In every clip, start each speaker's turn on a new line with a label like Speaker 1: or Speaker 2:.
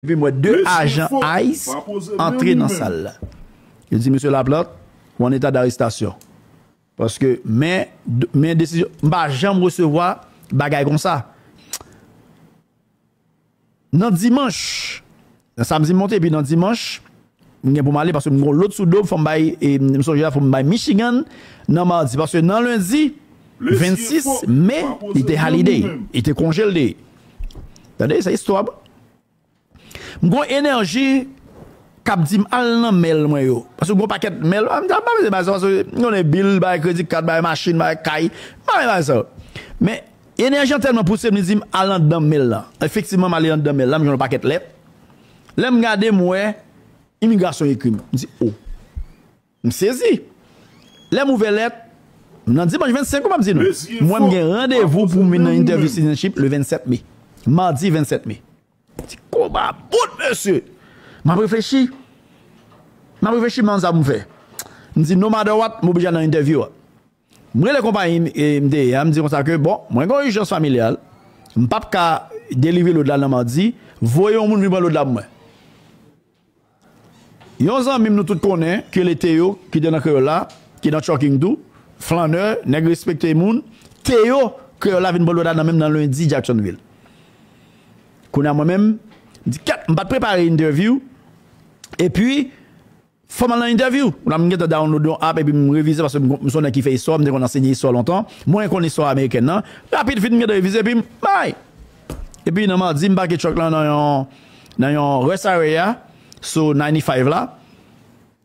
Speaker 1: Epi m wè 2 ajan ice antre nan sal la. Yo di Mesye Laplante ou an eta darestasyon. Paske men, men desizyon, m pa janm resevwa bagay konsa. Nan dimanch, nan samdi m monte epi nan dimanch. M gen pou m ale paske m gen yon lôt sou do m fò m bay m sonje la fò m bay Michigan nan madi paske nan lendi 26 me li te holiday li te konje l te ye tande se istwa m gon enèji k ap di m al nan mail mwen yo paske gon pakèt mail m pa beze bay sa paske m konnen bill bay kredi kat bay machin bay kay m pa beze bay sa men enèji an tèlman pouse m li di m al andan mail lan efektivman m ale andan mail la m jwenn yon pakèt lèt. Lè m gade m wè imigrasyon ekri m. M di o. M sezi. Lè m ouvè lèt, m nan dimanch 25 m ap di nou. M wè m gen randevou pou m vin nan entèvyou sitizanship le 27 me. Madi 27 me. M di koma bout mesye. M ap reflechi. M ap reflechi m nan sa pou m fè. M di no matter what m oblije al nan entèvyou a. M rele konpayi m te ye a, m di konsa ke bon, mwen gen yon ijans familyal, m p ap ka delivre lod la nan madi, voye yon moun vin pran lod la pou mwen. Yon zanmi m nou tout konnen ke le Teyo ki te nan Kreyòl la, ki nan Trucking tou, flannè, nèg respekte moun, Teyo, Kreyòl la vin pran lod la nan men m nan lendi Jacksonville. Kounye a mwen menm, m di kèt, m pa t prepare entèvyou, epi. Fòm al nan entèvyou. La m gentan download yon app epi m revize paske m m son nèg ki fè istwa, m te konn ansenye istwa lontan. Mwen konn istwa amerikèn nan. Rapid fin m gentan revize epi m bay! Epi nan madi m pake truck lan nan yon nan yon rest area sou 95 la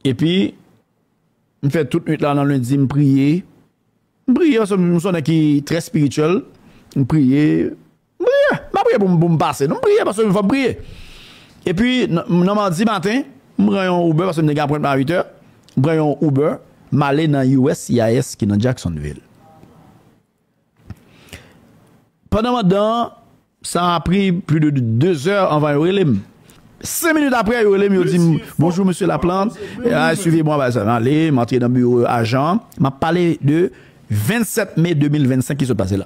Speaker 1: epi m fè tout nwit la nan lendi m priye. M priye paske m son nèg ki trè spirituel. M priye, M priye, m pa priye pou m pou m pase non, m priye paske m fò m priye. Epi nan madi maten, m pran yon Uber paske m te gen apwentman a 8 è, m pran yon Uber, m ale nan uscis ki nan Jacksonville. Pandan m andan an, sa a pri pli de 2 è anvan yo rele m. 5 minit aprè yo rele m, yo di m, Bonjou mesye Laplante, suivez moi, bagay sa. M ale, m antre nan biwo ajan an, m ap pale de 27 me 2025 ki sot pase la.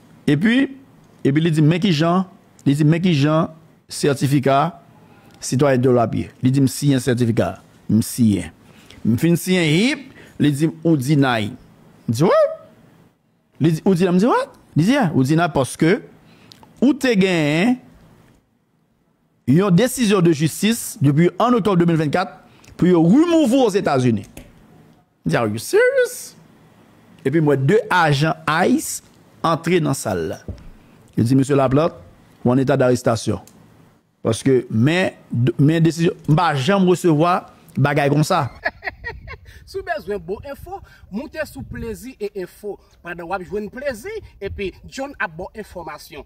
Speaker 1: Epi, epi li di m, men ki jan, li di m, men ki jan sètifika sitwayen de w la ap ye. Li di m, siyen sètifika a. M siyen. M fin siyen, hip! Li di m, ou dinay. M di, What? Li di, ou dinay? M di, What? Li di, Yeah, ou dinay paske ou te genyen yon desizyon de jistis depi 1 oktòb 2024 pou yo remove ou Ozetazini. M di are you serious? Epi m wè 2 ajan ice antre nan sal la. Yo di Mesye Laplante ou an eta darestasyon. Paske men men desizyon m pa janm resevwa bagay konsa. Si w
Speaker 2: bezwen bon enfo, moute sou plezi e enfo. Pandan w ap jwenn plezi, epi John ap ba w enfòmasyon.